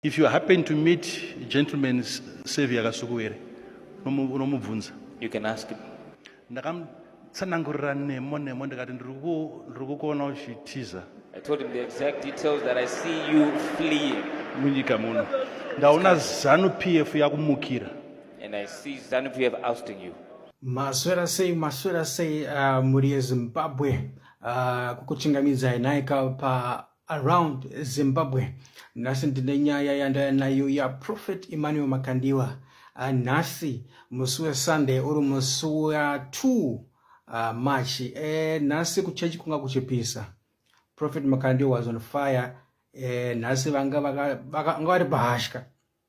If you happen to meet gentleman Savior Kasukuwere, unomubvunza. You can ask him. Ndakamutsanangurira nemo nemo ndikati ndiri kukuona uchitiza. I told him the exact details that I see you fleeing. Munyika muno. Ndaona Zanu PF yakumukira. And I see Zanu PF ousting you. Maswera sei maswera sei uh, muri yeZimbabwe uh, kukuchingamidzai nhaika pa around Zimbabwe. Nhasi ndine nyaya yandaya nayo yaProphet Emmanuel Makandiwa. Ah, nhasi musi weSunday uri musi wa2 uh, ah, March. Eh, nhasi kuchechi kunga kuchipisa. Prophet Makandiwa was on fire. Eh, nhasi vanga vari bahashka.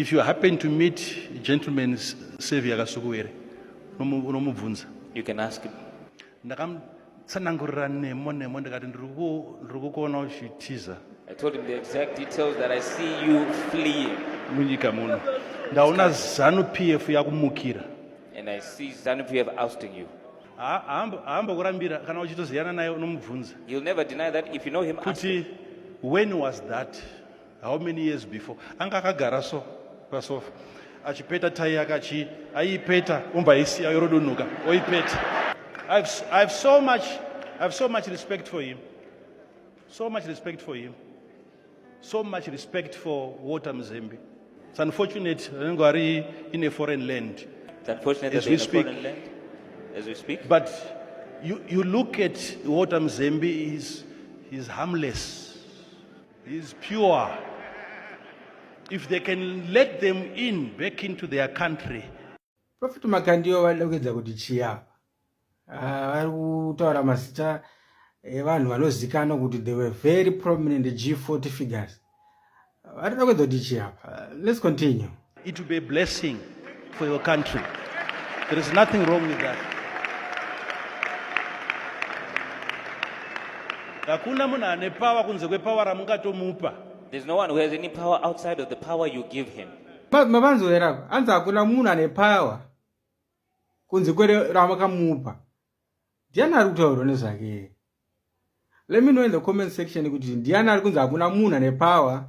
If you happen to meet gentleman Savior Kasukuwere, unomubvunza. You can ask him. Ndakamutsanangurira nemo nemo ndikati ndiri kukuona uchitiza. I told him the exact details that I see you fleeing. Munyika muno. Ndaona Zanu PF yakumukira. And I see Zanu PF ousting you. haambokurambira kana uchitoziyana naye unomubvunza. You'll never deny that if you know him. Kuti when was that? how many years before anga akagara so pasofa achipeta tai yake achi aiipeta umba isiya yorodunhuka oipeta I've, I've so much I've so much respect for him so much respect for him so much respect for Walter Mzembe it's unfortunate anenge ari in a foreign land it's unfortunate as we speak land, as we speak but you, you look at Walter Mzembe is is harmless He is pure. If they can let them in back into their country. Prophet Makandiyo vanoda kuedza kuti chiya ah, vari kutaura mazita evanhu vanozikanwa kuti they were very prominent G40 figures. Vanoda kuedza kuti chiya. Let's continue. It will be a blessing for your country. There is nothing wrong with that. Hakuna munhu ane power kunze kwepower ramungatomupa. There's no one who has any power outside of the power you give him. Mavanzwera apa anzi hakuna munhu ane power kunze kwere ramakamupa. Ndiani ari kutaurwa nezvake? Let me know in the comment section kuti ndiani ari kunzi hakuna munhu ane power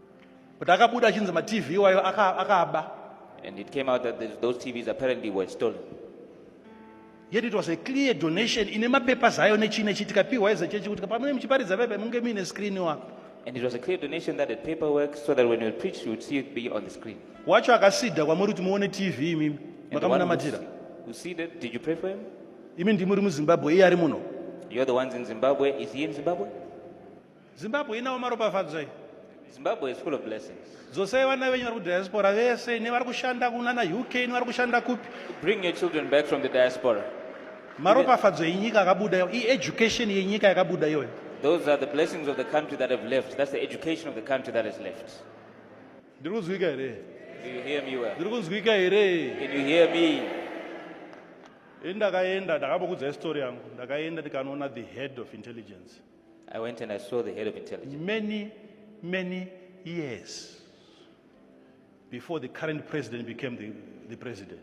But akabuda achinzi ma TV iwayo akaaba. And it came out that those TVs apparently were stolen. Yet it was a clear donation ine mapepa zayo nechii nechii tikapiwa as a church kuti pamune muchiparidza pepa munge muine screen wapo. And it was a clear donation that had paperwork so that when you preach you would see it be on the screen. Wacho akasida kwamuri kuti muone TV imimi. Makamunamatira. Who see that? Did you pray for him? Imi ndimuri muZimbabwe iye ari muno. You're the ones in Zimbabwe. Is he in Zimbabwe? zimbabwe inawo maropafadzo iyi zimbabwe is full of blessings dzosai vana venyu vari kudiaspora vese nevari kushanda kunana uk nevari kushanda kupi bring your children back from the diaspora maropafadzo enyika akabuda iyo ieducation yenyika yakabuda iyoyo those are the blessings of the country that have left that's the education of the country that has left ndiri kunzwika here ndiri kunzwika here ndakaenda ndakabokudzai story yangu ndakaenda ndikanoona the head of intelligence I went and I saw the head of intelligence. Many, many years before the current president became the, the president.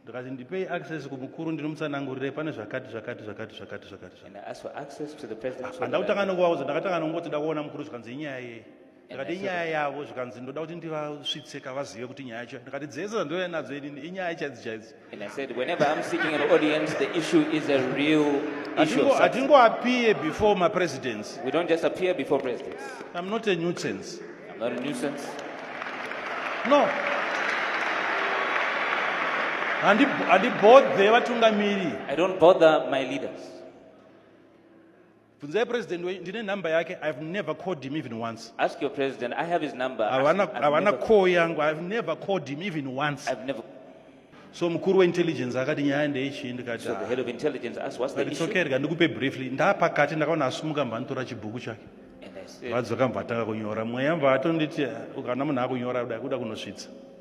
ndikati ndipei access kumukuru ndinomutsanangurire pane zvakati zvakati zvakati zvakati zvakati zvakati. And I asked for access to the president. so that I Handakutanga could- nongovaudza ndakatanga nongoti ndakuona mukuru zvikanzi inyaya yei. ndikati inyaya yavo zvikanzi ndoda kuti ndivasvitse kavazive kuti nyaya yacho ndikati dzese dzandouya nadzo inini inyaya chaidzo chaidzo hatingoappear before mapresidents im not a nuisance no handibodhe vatungamiri i don't bother my leaders bvunzai president wenyu ndine number yake i have never called him even once Ask your president. I have his number. Ask- havana I've havana never- call yangu i have never called him even once I've never. so mukuru weintelligence akati nyaya ndeichii ndikati So the "Ah, head of intelligence asked, "What's the but it's issue?" okay rega ndikupe briefly ndapakati ndakaona asumuka mva nditora chibhuku chake And I said, vadzoka mva atanga kunyora mweya mva atonditi "Ah, kana munhu akunyora kuda kuda kunosvitsa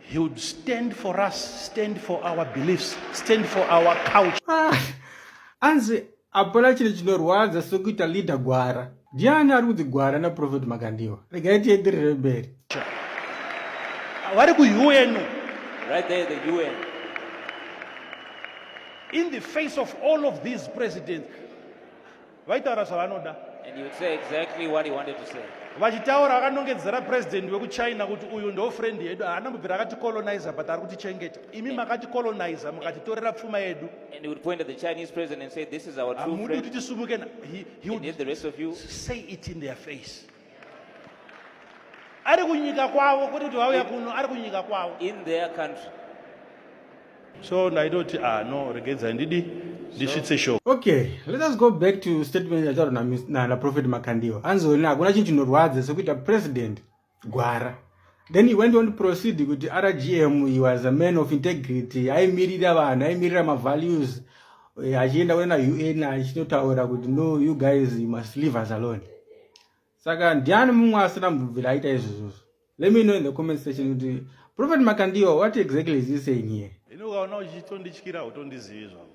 He would stand for us, stand for our beliefs, stand for our culture. Ah, anzi hapana chiro chinorwadza sokuita leader gwara. Ndiani ari kunzi gwara naProphet Makandiwa? Regai tienderere mberi. Vari kuUN. Right there the UN. In the face of all of these presidents, vaitaura zvavanoda vachitaura vakanongedzera president wekuchina kuti uyu ndo friend yedu haana mubvira akati colonizer but ari kutichengeta imi makati colonizer mukatitorera pfuma yedu hamudi kuti tisumuke say it in their face ari kunyika kwavo kwete kuti vauya kuno ari kunyika kwavo in their country so ndaitoti ah no regedzai ndidi ndisvitse show okay let us go back to statement yataurwa naprophet makandiwa anzoni hakuna chinhu chinorwadza sekuita president gwara then he went on to proceed kuti rgm he was a man of integrity aimirira vanhu aimirira mavalues eh, achienda kuenda un achinotaura kuti no you guys you must leave us alone saka ndiani mumwe asina mubvira aita izvozvozvo let me know in the comment section kuti prophet makandiwa what exactly is he saying here inokaona uchitondityira utondizivi zvavo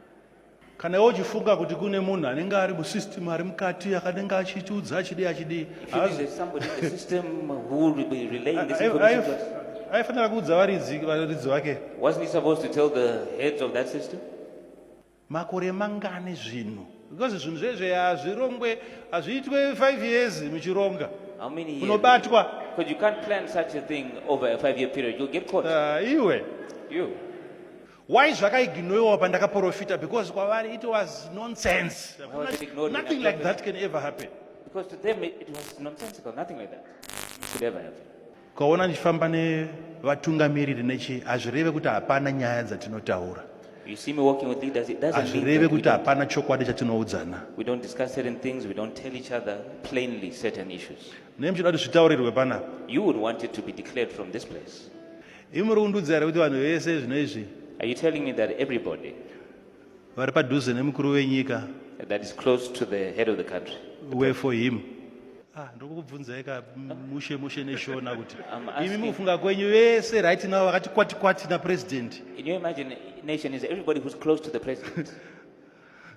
kana iwe uchifunga kuti kune munhu anenge ari musystem ari mukati akanenge achitiudza achidii achidii aifanira kuudza varidzi varidzi vake makore mangani zvinhu because zvinhu zvezve hazvirongwe hazviitwe five years muchironga unobatwa iwe Why zvakaignoiwa pandakaprofita because kwavari it was nonsense. Nothing like that can ever happen. Because to them it was nonsensical, nothing like that should ever happen. Ukaona ndichifamba nevatungamiriri nechi hazvireve kuti hapana nyaya dzatinotaura. You see me walking with leaders, it doesn't mean hazvireve kuti hapana chokwadi chatinoudzana. We don't discuss certain things, we don't tell each other plainly certain issues. Nei muchida kuti zvitaurirwe panapa? You would want it to be declared from this place. Imi muri kundiudza here kuti vanhu vese zvino izvi Are you telling me that everybody vari padhuze nemukuru wenyika that is close to the head of the country, were for him? Ah, ndiri kukubvunzai ka m- mushe mushe neshona kuti I'm asking- imi mukufunga kwenyu vese right now vakati kwati kwati napresident can you imagine nation is everybody who's close to the president?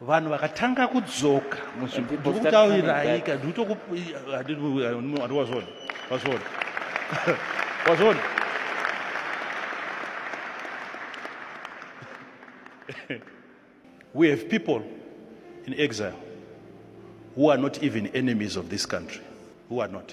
vanhu vakatanga kudzoka ndikutauriraika ndikutokuwazvona wazvona wazvona we have people in exile who are not even enemies of this country who are not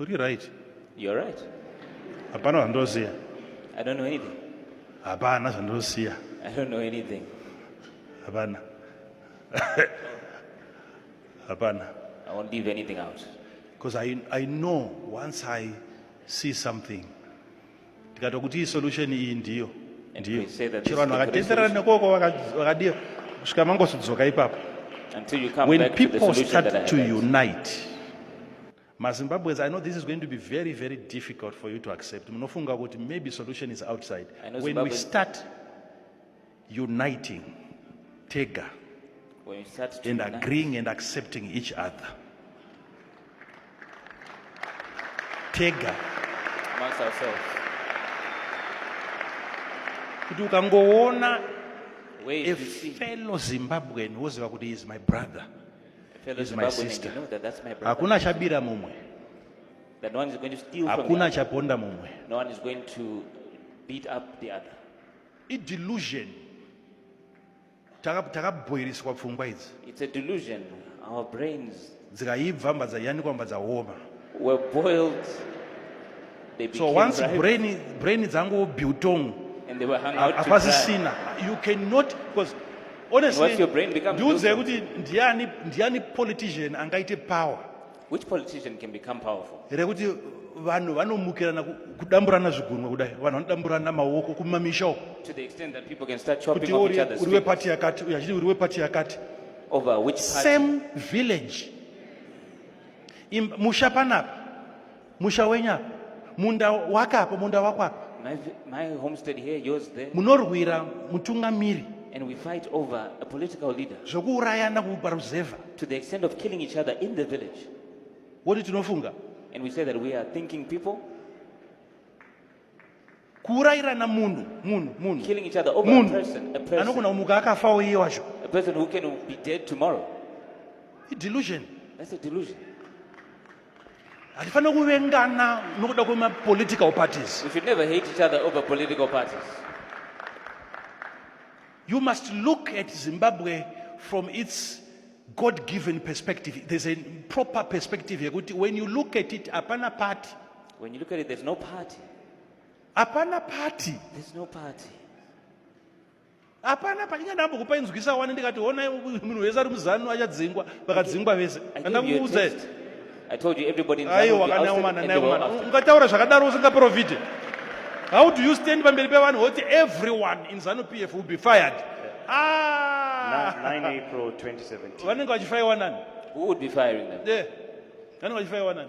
Uri right. You're right. Hapana zvandoziva. I don't know anything. Hapana zvandoziva. I don't know anything. Hapana. Hapana. I won't leave anything out. Because I, I know once I see something ndikati kuti iyi solution iyi ndiyo ndiyo chero vanhu vakatenderana nekoko vakadiyo kusvika mangosudzoka ipapo when people start to unite mazimbabweans i know this is going to be very very difficult for you to accept munofunga kuti maybe solution is outside when Zimbabwe... we start uniting tega and agreeing and accepting each other tega kuti ukangoona a fellow zimbabwean woziva kuti is my brother is my sister. Hakuna chabira mumwe. That one is going to steal from Hakuna chaponda mumwe. No one is going to beat up the other. I delusion. Takabhoiriswa pfungwa idzi. It's a delusion. Our brains. Dzikaibva mbadza yanikwa mbadza homa. were boiled they so once ripe, brain brain dzangu biltong and they were hung out hapasisina you cannot because honestly ndiudze kuti ndiani ndiani politician angaite power which politician can become powerful here kuti vanhu vanomukirana kudamburana zvigunwe kudai vanhu vanodamburana maoko kumamisha uko kuti uri wepati yakati uyu achiti uri wepati yakati over which party? same village musha panapa musha wenyu apa munda wake apa munda wako apa munorwira mutungamiri and we fight over a political leader zvokuurayana kuparuzevha to the extent of killing each other in the village woti tinofunga and we say that we are thinking people kuurayirana munhu munhu munhu killing each other over munhu. a person a person anogona kumuka akafawo iye wacho a person who can be dead tomorrow idelusion that's a delusion hatifanira kuvengana nokuda kwemapolitical parties we should never hate each other over political parties you must look at zimbabwe from its god given perspective there's a proper perspective yekuti when you look at it hapana party when you look at it there's no party hapana party there's no party hapana painga ndambokupa inzwisa wani ndikati honai munhu wese ari muzanu achadzingwa vakadzingwa vese andakuudza aiwa kana umana naye umana ungataura zvakadaro usingaprofite how do you stand pamberi pevanhu woti everyone in zanu p f will be fired ah! vanenge vachifaiwa nani vanenge vachifaiwa nani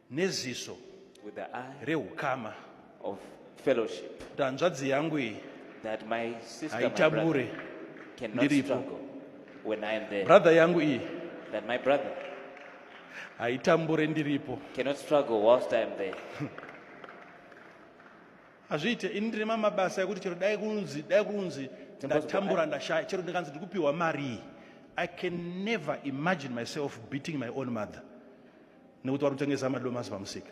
neziso with the eye reukama of fellowship kuti hanzvadzi yangu iyi that my sister my brother haitambure cannot Ndiripo. struggle when I am there brother yangu iyi that my brother haitambure ndiripo cannot struggle whilst I am there hazviite ini ndine mamabasa ekuti chero dai kunzi dai kunzi ndatambura ndashaya chero ndikanzi ndiri kupiwa marii i can never imagine myself beating my own mother nekuti vari kutengesa madomasi pamusika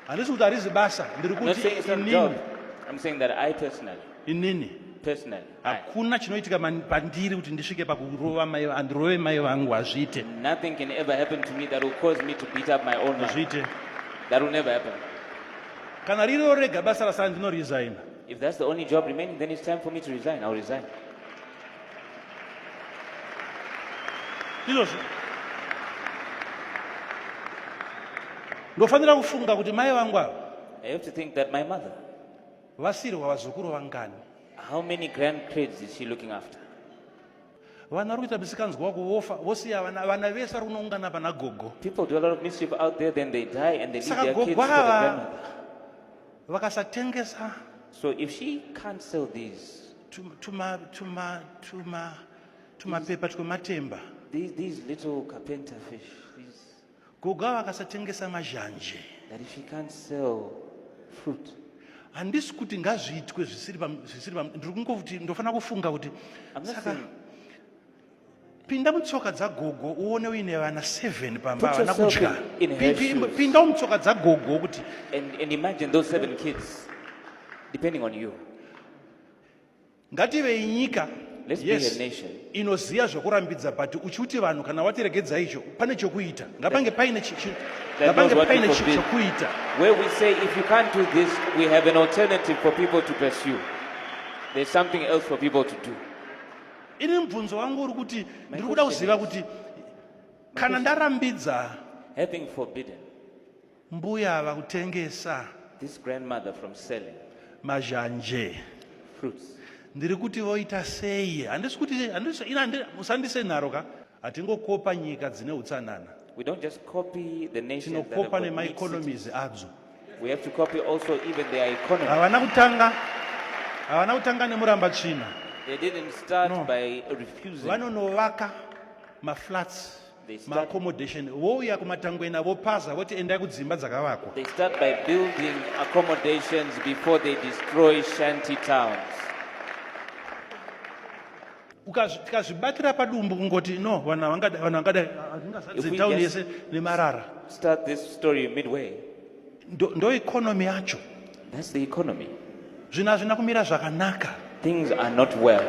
handisi kuti harizi basa ndiri kuti inini I'm saying that I personally. Inini. Personally. Hakuna chinoitika pandiri kuti ndisvike pakurova mai andirove mai vangu hazviite. Nothing can ever happen to me that will cause me to beat up my own wife. Hazviite. That will never happen. Kana ririwo rega basa rasara ndino resign. If that's the only job remaining then it's time for me to resign. I'll resign. izvozvo ndofanira kufunga kuti mai vangu ava I have to think that my mother, vasirwa vazukuru vangani how many grandkids is she looking after? vana vari kuita misikanzwa wako vofa vosiya vana vana vese vari kunoungana pana gogo People do a lot of mischief out there, then they die and they leave Saka their kids for the gogo ava- grandmother. vakasatengesa So if she can't sell these, tuma tuma tuma tumapepa twematemba these, these little carpenter fish these... gogo ava akasatengesa mazhanje that if he can't sell fruit handisi kuti ngazviitwe zvisiri ndiri kungokuti ndofanira kufunga kuti saka pinda mutsoka dzagogo uone uine vana 7 pamba havana kudya pinda umutsoka dzagogo kuti ngativei nyika yes inoziva zvekurambidza but uchiuti vanhu kana watiregedza icho pane chokuita ngapange paine ngapange paine chokuita where we say if you can't do this we have an alternative for people to pursue there's something else for people to do ini mubvunzo wangu uri kuti ndiri kuda kuziva kuti kana ndarambidza having forbidden mbuya ava kutengesa this grandmother from selling mazhanje fruits ndiri kuti voita sei handisi kuti handisi ina musandise nharo ka Hatingokopa nyika dzine utsanana. We don't just copy the nation that have got big cities. adzo. We have to copy also even their economy. Havana kutanga havana kutanga nemuramba tsvina. They didn't start no. by refusing. Vanonovaka maflats maaccommodation vouya kumatangwena vopaza voti endai kudzimba dzakavakwa they start by building accommodations before they destroy shanty towns tikazvibatira padumbu kungoti no vanhu vangada vanhu vangada hazvingazadze town yese nemarara start this story midway ndo, ndo economy yacho that's the economy zvinhu hazvina kumira zvakanaka things are not well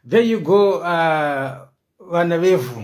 there you go uh, vana vevhu